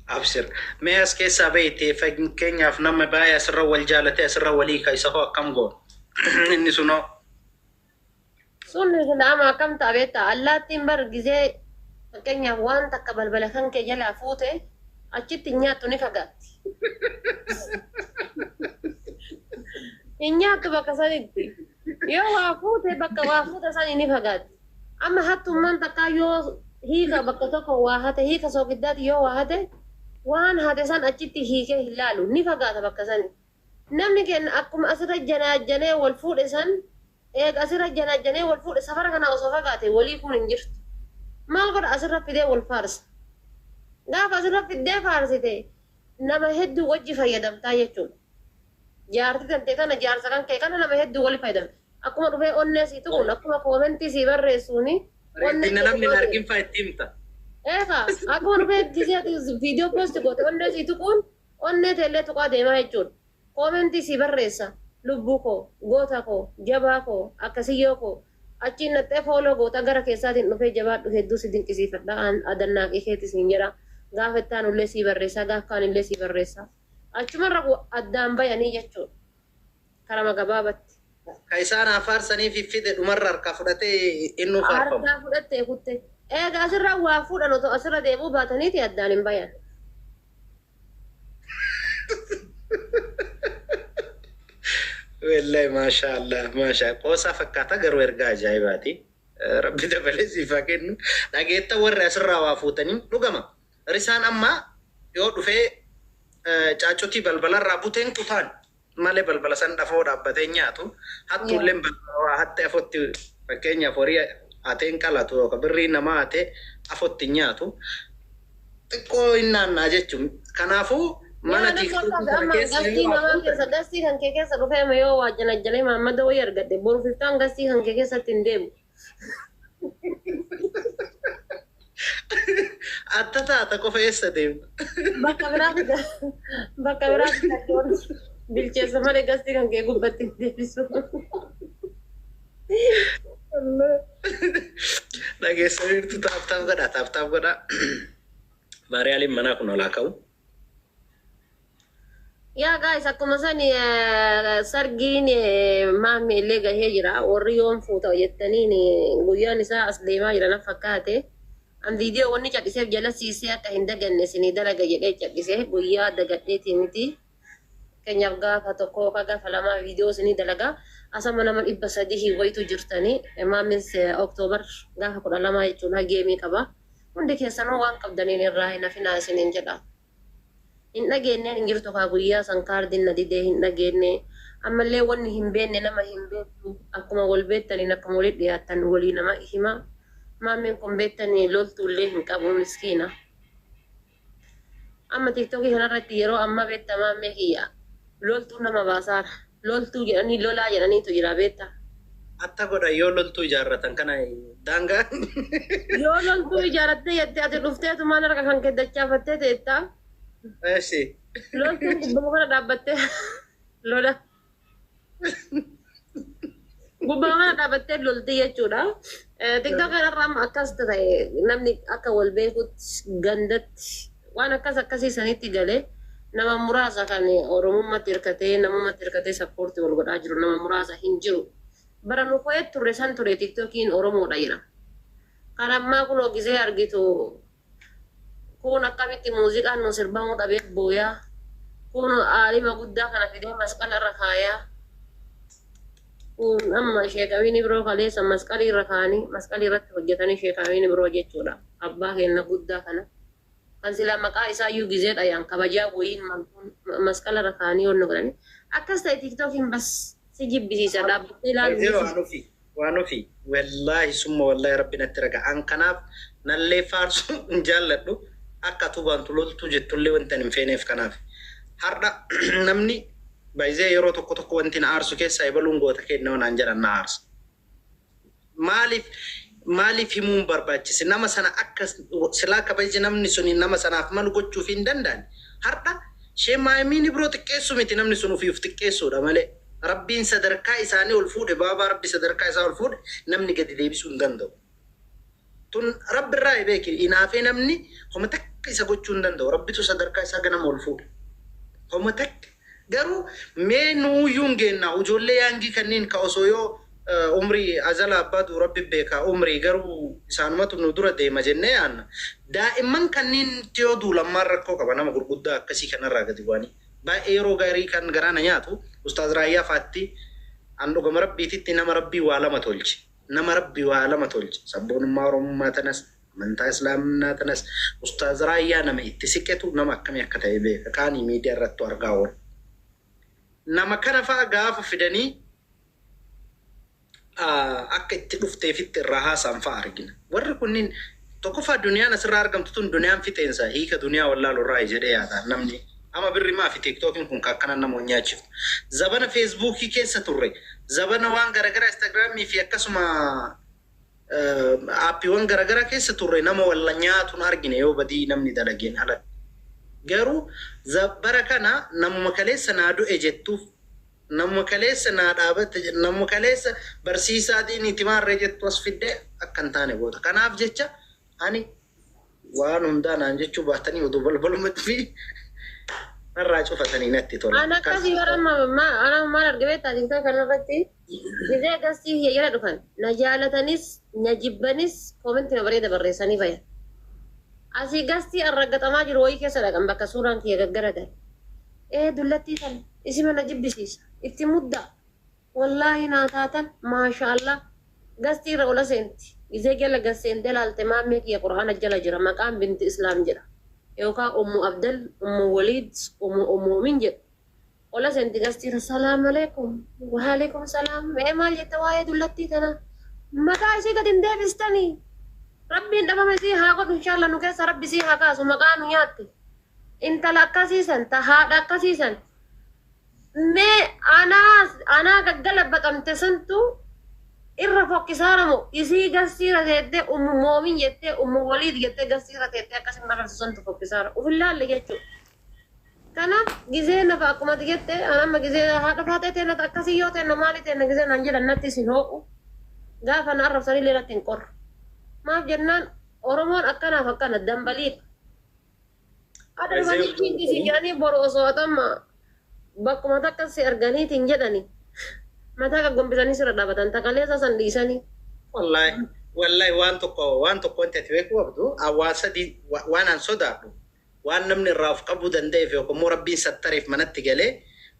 Absir. Mee as keessaa beeyte fakkeenyaaf nama baay'ee asirra wal jaalate asirra walii ka isa hoo akkam goon. Inni sunoo. Sun nama akkam ta'a beektaa? Allaattiin bar gizee fakkeenyaaf waan takka balbala kan kee jalaa fuute achitti hin nyaattu ni fagaatti. Hin nyaattu bakka sanitti. Yoo waa fuute bakka waa fuute sanii ni fagaatti. Amma hattummaan takkaa yoo hiika bakka tokko waa hate hiika soogiddaati yoo waa hate waan hate san achitti hiikee hin laalu ni fagaata bakka sanii. Namni keenya akkuma asirra janaajjanee wal fuudhe san eega asirra janaajjanee wal fuudhe safara kanaa osoo fagaate wal hiikuun hin jirtu. Maal godha asirra fidee wal faarsa. Gaafa asirra fiddee faarsite nama hedduu wajji fayyadamtaa jechuudha. Jaarti tante kana jaarsa kan kee kana nama heddu wali fayadame akkuma dhufee onnee sii tuquun akkuma koomentii sii barreessuuni onnee Bareeddinna namni hin argin faa itti himta. Ee kaa akkuma dhufee gisee ati video post goote onnee sii tuquun onnee tee illee tuqaa deemaa jechuudha koomentii sii barreessa lubbuu koo goota koo jabaa koo akkasiyyoo koo achiin dhaxxee follow goota gara keessaatiin dhufee jabaadhu hedduu si dinqisiifadha an adannaaqii keeti siin jedha gaafa itti aanu illee sii barreessaa gaaf kaan illee sii barreessaa. Achumarra ku addaan bayanii jechuudha. Karama gabaabatti. Ka isaan haa faarsaniifiif fide dhumarra harkaa fudhatee innuu faarfama. Harkaa fudhattee kutte. Eega asirraa waa fuudhan otoo asirra deebi'uu baataniiti addaan hin bayan. Wellay maashaa Allah maashaa qoosaa fakkaata garuu ergaa ajaa'ibaati. Rabbi dabalee siif haa kennu. Dhageettan warri asirraa waa fuutanii dhugama. Risaan amma yoo dhufee caaccutii balbala irraa bute hin kutaan malee balbala san dhafoo dhaabbatee hin nyaatu. Hattuulleen balbala waa hatte afotti fakkeenyaaf horii hatee hin qalatu yookaan birrii namaa hatee afotti hin nyaatu. Xiqqoo hin naanna'a jechuun kanaafuu mana tiiktookii kana keessa yoo hafu. Gastii namaa keessa gastii kan kee keessa dhufee amma yoo waa janajjanee maammada wayii argadhe boru fiftaan gastii kan kee keessatti hin deemu. Atta taata qofa eessa deemna? Bakka biraatti ga- bakka biraatti gaddoon bilcheessa malee gastii kan kee gubbatti hin deebisu. Dhageessaniirtu taaptaaf godhaa taaptaaf godhaa. Maariyaaliin manaa kun olaa ka'u. Yaa guys akkuma san eh, sargiin eh, maammi illee gahee jira warri yoon fuuta jettaniin eh, guyyaan isaa as deemaa jira na fakkaate an viidiyoo wanni cadhiseef jalasiisee akka hin daganne isinii dalaga jedhee cadhise guyyaa dagadheetii miti keenyaaf gaafa tokko yookaan gaafa lamaa viidiyoo isinii dalaga asama nama dhibba sadii hin wayitu jirtanii eh, maammis eh, oktoobar gaafa kudha lamaa jechuudha geemii qaba. Hundi keessanuu waan qabdaniin irraa hin hafinaa isiniin jedha. Hin dhageenneen hin jirtu kaa guyyaa san kaardiin na didee hin dhageenne. Ammallee wanni hin beenne nama hin beettu. Akkuma wal beettaniin akkuma walitti dhiyaattan walii nama hima. Maammeen kun beettanii loltuullee hin qabu miskiina. Amma tiktoki kana irratti yeroo amma betta maammee kiyya loltuu nama baasaara loltuu jedhanii lolaa jedhaniitu jira beetta. Atta godha yoo loltuu ijaarratan kana daangaa. Yoo loltuu ijaaratte jette ati dhufteetumaan harka kanke dachaafattee teetta. Eshi. Loltuun gubbama kana dhaabbattee lola. Gubbaamaa dhaabattee lolti jechuudha. Tiktoka irra amma akkas ta'e namni akka wal beekutti gandatti waan akkas akkasii sanitti galee nama muraasa kan Oromummatti hirkatee namummatti hirkatee sappoorti wal godhaa jiru nama muraasa hin jiru. Bara nu ko'ee turre san ture tiktokiin Oromoodha jedhama. Kan ammaa kunoo gisee argitu Kuun akkamitti muuziqaan nuu sirbamuu dhabee booyaa Kuun aalima guddaa kana fidee masqala irra kaayaa Kuun amma sheekamiin ibroo kaleessa masqalii irra kaanii masqalii irratti hojjatanii sheekamiin ibroo jechuudha abbaa keenna guddaa kana kan silaa maqaa isaa iyyuu gizee dhayaan kabajaa woyiin malkuun masqala irra kaanii wanna godhanii akkas ta'e tiktokiin bas si jibbisiisa dhaabbattee ilaaluu Yeroo hin anu fi Waan ofii wallaahi summa wallaahi rabbi natti raga an kanaaf nallee faarsuu hin jaalladhu akka atuu baantu loltuu jettullee wanti an hin feeneef kanaafi hardha namni by the yeroo tokko tokko wanti na aarsu keessaa ebaluun goota keenya yoo naan jedhan na aarsa maaliif maaliif himuu hin barbaachise nama sana akka silaa kabajni namni suni nama sanaaf malu gochuuf hin danda'ani hardha shee maayimiin ibroo xiqqeessuu miti namni sun ofii of xiqqeessuudha malee Rabbiin sadarkaa isaanii ol fuudhe baabaa rabbi sadarkaa isaa ol fuudhe namni gadi deebisuu hin danda'u tun rabbi irraayi beeki inaafee namni homa takka isa gochuu hin danda'u rabbitu sadarkaa isaa ganama ol fuudhe homa takka garuu mee nuuyyuu hin geennaa ujoollee yaangii kanniin ka osoo yoo umrii azala abbaa du rabbi beeka umrii garuu isaanumatu nu dura deema jennee yaanna daa'imman kanniin yoo duulammaan rakkoo qaba nama gurguddaa akkasii kanarraa gadi bu'anii Baay'ee yeroo gaarii kan garaa na nyaatu ustaaz Raayyaa faatti an dhugama rabbiititti nama rabbii waa lama tolche nama rabbi waa lama tolche sabboonummaa oromummaa tanas amantaa islaamnaa tanas ustaaz Raayyaa nama itti siqetu nama akkami akka ta'e beeka kaani miidiya irrattu argaa oole nama kana fa'a gaafa fidanii akka itti dhufteefitti irraa haasa'an fa'a argina. Warri kunniin tokkoffaa duniyaan asirraa argamtu tun duniyaan fixeensa hiika duniyaa wallaalurraayi jedhee yaada namni. Ama birri maafi tiktookiin kun ka akkanan nama wal nyaachiftu. Zabana feesbuukii keessa turre, zabana waan garagaraa instagiraamii fi akkasuma aappiiwan garagaraa keessa turre nama wal nyaatu hin argine yoo badii namni dalageen alatti. Garuu bara kana namuma kaleessa naa du'e jettuuf Namuma kaleessa naa dhaabatte jettu, namuma kaleessa barsiisaa diiniiti maarree jettu as fiddee akka hin taane goota. Kanaaf jecha ani waan hundaa naan jechuu baattanii oduu balbalumatti fi narraa cufatanii natti tola. An akkasii bara amma ma- ana maal arge beektaa tiktok kanarratti dirree gastii kiyya jala dhufan na jaalatanis na jibbanis koomentima bareeda barreessanii bayan. Asii gastii arraggaxamaa jiru wayii keessa dhaqan bakka suuraan kiyya gaggaragale. Ee dullattii tana isima na jibbisiisa itti muddaa wollaahi naa taatan maasha allah gastii irra ola seenti gizee jala gad seente laalte maammee kiyya qur'aana jala jira maqaan binti islaam jedha yookaa ummu abdal ummu woliid umu umuumin jedhu ola seenti gastii irra Salaamaleekum Waaleekum salaam mee maal jetta waa'ee dullattii tana maqaa isii gad hin deebistani rabbiin dhabama isii haa godhu inshallah nu keessa rabbi isii haa kaasu maqaa nu nyaatte. intala akkasii san ta haadha akkasii san mee anaa anaa gaggalabaxamte santu irra fokkisaara moo isii gassiira teettee ummu moomin jettee ummu waliid jettee gassiira teettee akkasi marartu santu fokkisaara uf hin laalle jechuu kanaaf gizee nafa akkumati jette an amma gizee haadha faatee teenna akkasii yoo teenna maali teenna gizee naan jedhan natti isin hoo'u gaafa na arrabsanillee natti hin qorru maaf jennaan oromoon akkanaaf akkana dambaliidha Adha Ajee manii kiingi si jedhanii boru osoo atamma bakkuma takka si arganiitiin jedhani mataa gaggombisanii sirra dhaabatan takaleessa san dhiisanii. Wallahi wallahi waan tokko waan tokko wanti ati beekuu qabdu waan sadii waan an sodaadhu waan namni irraa of qabuu danda'eef yookaan immoo rabbiin sattareef manatti galee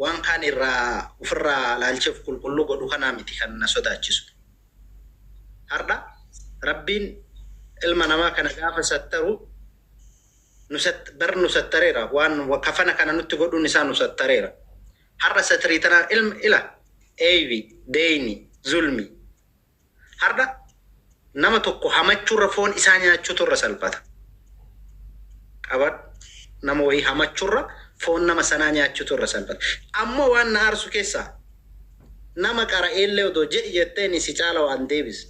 waan kaan irraa ofirraa laalchee of qulqulluu godhu kanaa miti kan na sodaachisu. Hardha Rabbiin ilma namaa kana gaafa sattaru bar nu sattareera waan kafana kana nutti godhuun isaa nu sattareera. Har'a satirii tanaan ilma ila eeybi deeyni zulmi har'a nama tokko hamachuurra foon isaa nyaachuutu irra salphata. Qabadhu nama wayii hamachuurra foon nama sanaa nyaachuutu irra salphata. Ammoo waan na aarsu keessaa nama qara'eellee odoo jedhi jetteeni si caala waan deebise.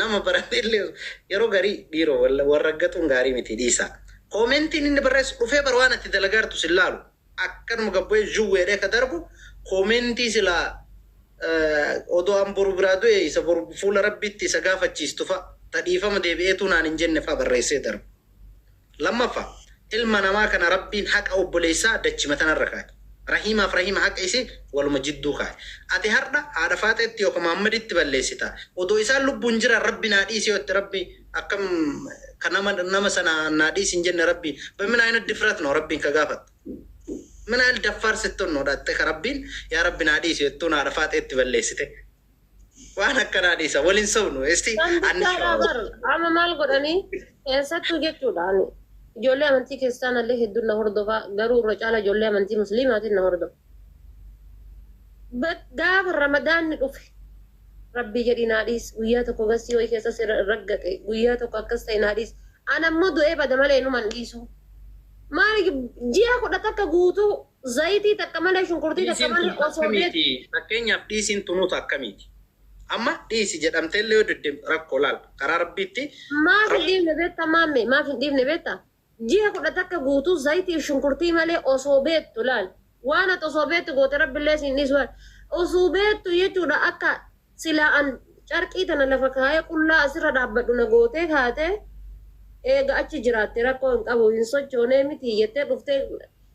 Nama barateellee yeroo garii dhiiroo wal raggaxuun gaarii miti dhiisaa. Koomentiin inni barreessu dhufee bar waan ati dalagaartu sin laalu. Akkanuma gad bu'ee zhuw jedhee ka darbu koomentii silaa odoo an boru biraa du'e isa boru fuula Rabbiitti isa gaafachiistu fa'a ta dhiifama deebi'eetuu naan hin jenne fa'a barreessee darba. Lammaffa, ilma namaa kana Rabbiin haqa obboleessaa dachima tanarra kaaye. Rahiimaaf rahiima haqa isii waluma jidduu kaaye. Ati hardha haadha faaxeetti yooka Muhammaditti balleessita. Odoo isaan lubbuun jiraan Rabbi naa dhiisi yoo jette Rabbi akkam ka nama nama sana naa dhiisi hin jenne Rabbi bemin ayinat difrat no Rabbiin ka gaafatta. Min ayil daffaar sittun no dhaxxe ka Rabbiin yaa Rabbi naa dhiisi jettuun haadha faaxeetti balleessite. Waan akkanaa dhiisa wal hin sobnu esti Kan anni bichaadhaa bar amma maal godhanii eessattuu jechuudha ani ijoollee amantii kiristaanallee hedduun na hordofaa garuu irra caala ijoollee amantii musliimaatiin na hordofa. But gaafa ramadaanni dhufe rabbii jedhii naa dhiis guyyaa tokko gassii wayii keessa si raggaxe guyyaa tokko akkas ta'e naa dhiis ana immoo du'ee bada malee inuman dhiisuu. Maali ji'a kudha takka guutuu Zayitii takka malee shunkurtii takka Dhiisiin malee tun osoo beektu. akkamiiti? Fakkeenyaaf dhiisiin tunuu tun akkamiiti? Amma dhiisi jedhamtee illee yoo didde rakkoo laal karaa rabbiitti Maaf hin dhiifne beektaa maammee? Maaf hin dhiifne beektaa? Ji'a kudha takka guutuu zayitii fi shunkurtii malee osoo beektu laal. Waan ati osoo beektu goote rabbi illee si hin dhiisu. Osoo beektu jechuudha akka Silaa an carqii tana lafa kaayee qullaa asirra dhaabbadhu na gootee kaatee eega achi jiraatte rakkoo hin qabu hin sochoonee mitii jettee dhuftee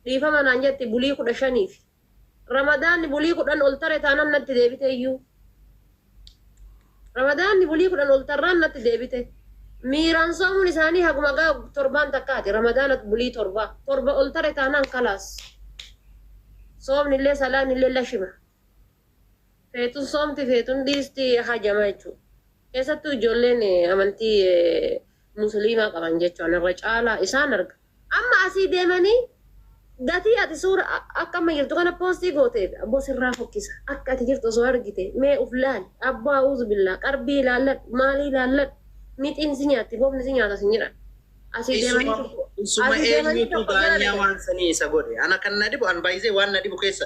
dhiifama naan jetti bulii 15f. Ramadaanni bulii 10 ol tare taanan natti deebite iyyuu. Ramadaanni bulii 10 ol tarraan natti deebite. Miiraan soomuun isaanii haguma gaa torbaan takkaati ramadaana bulii torba. Torba ol tare taanaan kalaas. Soomni illee salaanni illee lashima. Feetus soomti feetu hin dhiisti hajama jechuudha. Keessattuu ijoolleen amantii musliimaa qaban jechuun irra caalaa isaan arga. Amma asii deemanii gatii ati suura akka amma jirtu kana poostii gooteef abboo sirraa fokkisa. Akka ati jirtu osoo argite mee uf laali abboo auzubillah qarbii ilaalladhu maalii ilaalladhu mixiin si nyaatti bofni si nyaata sin jedhan. Asii deemanii tokko Isuma asii deemanii eenyutu tokko hin daanyaa argan. waan sanii isa godhe. Ana kan na dhibu an baay'isee waan na dhibu keessa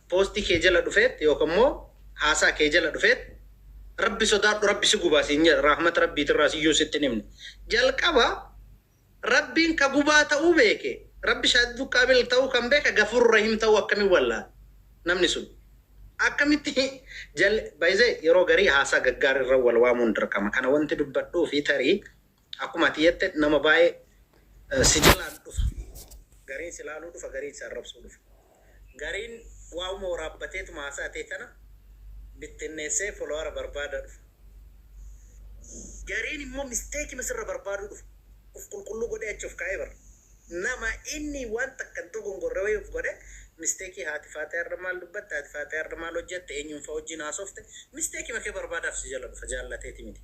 post kee jala dhufeet yookan immoo haasaa kee jala dhufeet rabbi sodaadhu rabbi si gubaa siin jedha rahmata rabbiitirraa siyyuu sitti hin himne jalqaba rabbiin ka gubaa ta'uu beeke rabbi shaadidu qaabil ta'uu kan beeke gafuuru rahim ta'uu akkamiin wallaale namni sun akkamitti jal by the way yeroo garii haasaa gaggaarirra wal waamuun dirqama kana wanti dubbadhuufi tarii Akkuma ati jette nama baay'ee si jalaan dhufa. Gariin si laaluu dhufa, gariin si arrabsuu dhufa. Gariin waa'uma waraabbateetuma haasaa tee tana bittinneessee folowara barbaada dhufa. Gariin immoo misteekima sirra barbaaduu dhufa. Uf qulqulluu godhee achi of kaa'ee bar. nama inni waan takka hin dogongorre wayii of godhe mistake haati faatiyaa irra maal dubbatte haati faatiyaa irra maal hojjatte eenyuun faa wajjiin haasofte mistake ma kee barbaadaaf si jala dhufa jaallateeti miti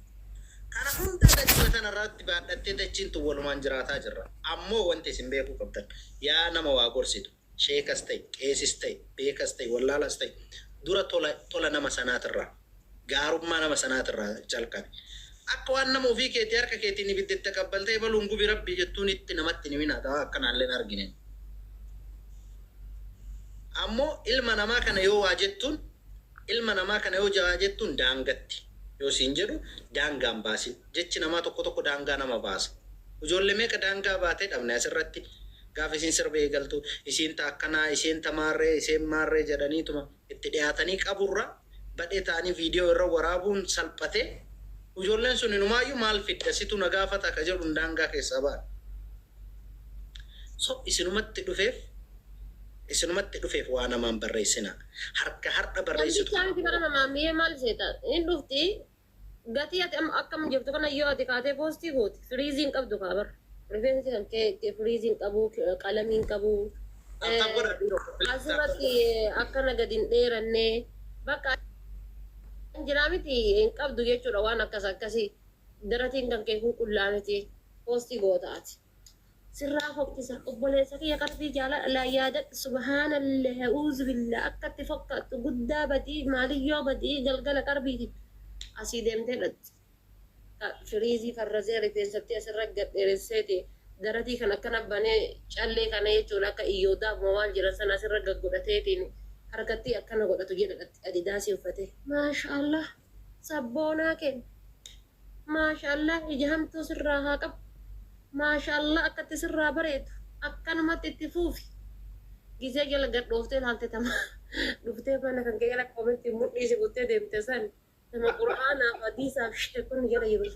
kana hundaa dachima tana irraatti baadhattee dachiin tun walumaan jiraataa jirra ammoo wanti isin beekuu qabdan yaa nama waa gorsitu sheekas ta'e, qeesis ta'e, beekas ta'e, wallaalas ta'e, dura tola, tola nama sanaatirraa, gaarummaa nama sanaatirraa jalqabi. Akka waan nama ofii keetii harka keetiin ibidda itti aqabbaltee ebaluun gubi Rabbii jettuunitti namatti hin himinaa, taa akkanaallee hin argineen. Ammoo ilma namaa kana yoo waa jettuun, ilma namaa kana yoo jawaa jettuun daangatti, yoo siin jedhu daangaa hin baasin. jechi namaa tokko tokko daangaa nama baasa. Ujoolle meeqa daangaa baatee dhabne asirratti. Gaaf isiin sirba eegaltu isiin ta akkanaa, isiin ta maarree, iseen maarree jedhaniituma itti dhiyaatanii qaburra badhee ta'anii viidiyoo irra waraabuun salphatee ujoolleen sun inumaayyu maal fidda situ na gaafata ka jedhuun daangaa keessaa ba'an. So isinumatti dhufeef isinumatti dhufeef waa namaan barreessinaa. Harka hardha Namni barreessitu kana chaansi bara namaa mi'ee maal seeta? Hin dhufti Gatii ati amma akkam jirtu kana yoo ati kaatee poostii goote firiizii hin qabdu kaa bar. Rifeensi kan kee firiizii hin qabu, qalamii hin qabu. Attam godha dhiiroo koo please. Asirratti akkana gadi hin dheeranne. Bakka an jiraa miti hin qabdu jechuudha waan akkas akkasii. Daratiin kan kee qulqullaa miti poostii goota ati. sirraa fokkisa obboleessa kiyya qalbii jaalalaa yaadadhu subhaanallah auzubillah akka itti fokkaattu guddaa badii maaliyyoo badii galgala qarbiiti asii deemtee dhatti ka firiizii farrazee rifeensattii asirra gad dheeresseeti daratii kan akkana banee callee kana jechuun akka iyyoodaaf moo maal jiran sana asirra gad godhateetiin harkattii akkana godhatu jedha dhatti adidaasii uffatee maashaallah sabboonaa keenya Maashaallah ija hamtuu sirraa haa qabu Maashaallah akkatti sirraa bareedu akkanumatti itti fuufi gizee jala gad dhooftee ilaalte tama dhuftee mana kan kee jala koomentiin mudhii si buttee deemte san tama qur'aanaaf hadiisaaf sheekonni jala jiru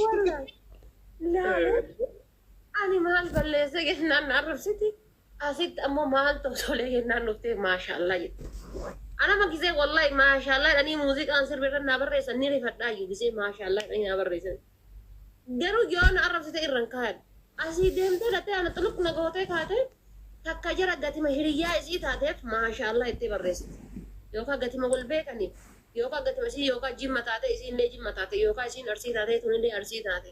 Wallahi. Laalee. Ani maal balleesse jennaan na arrabsiti. Asitti ammoo maaltu tolee jennaan dhuftee maashaallah jette. Anama gisee wallahi maashaallah jedhanii muuziqaan sirbi irra naa barreessan ni rifadhaa iyyuu gisee maashaallah jedhanii naa barreessan. Garuu yoo na arrabsite irra hin kaayan. Asii deemtee dhattee ana xuluq na gootee kaatee takka jara gatima hiriyyaa isii taateef maashaallah jettee barreessite. Yookaan gatima wal beekaniif yookaan gatima isii yookaan jimma taatee isiillee jimma taate yookaan isiin arsii taatee tunillee arsii taate.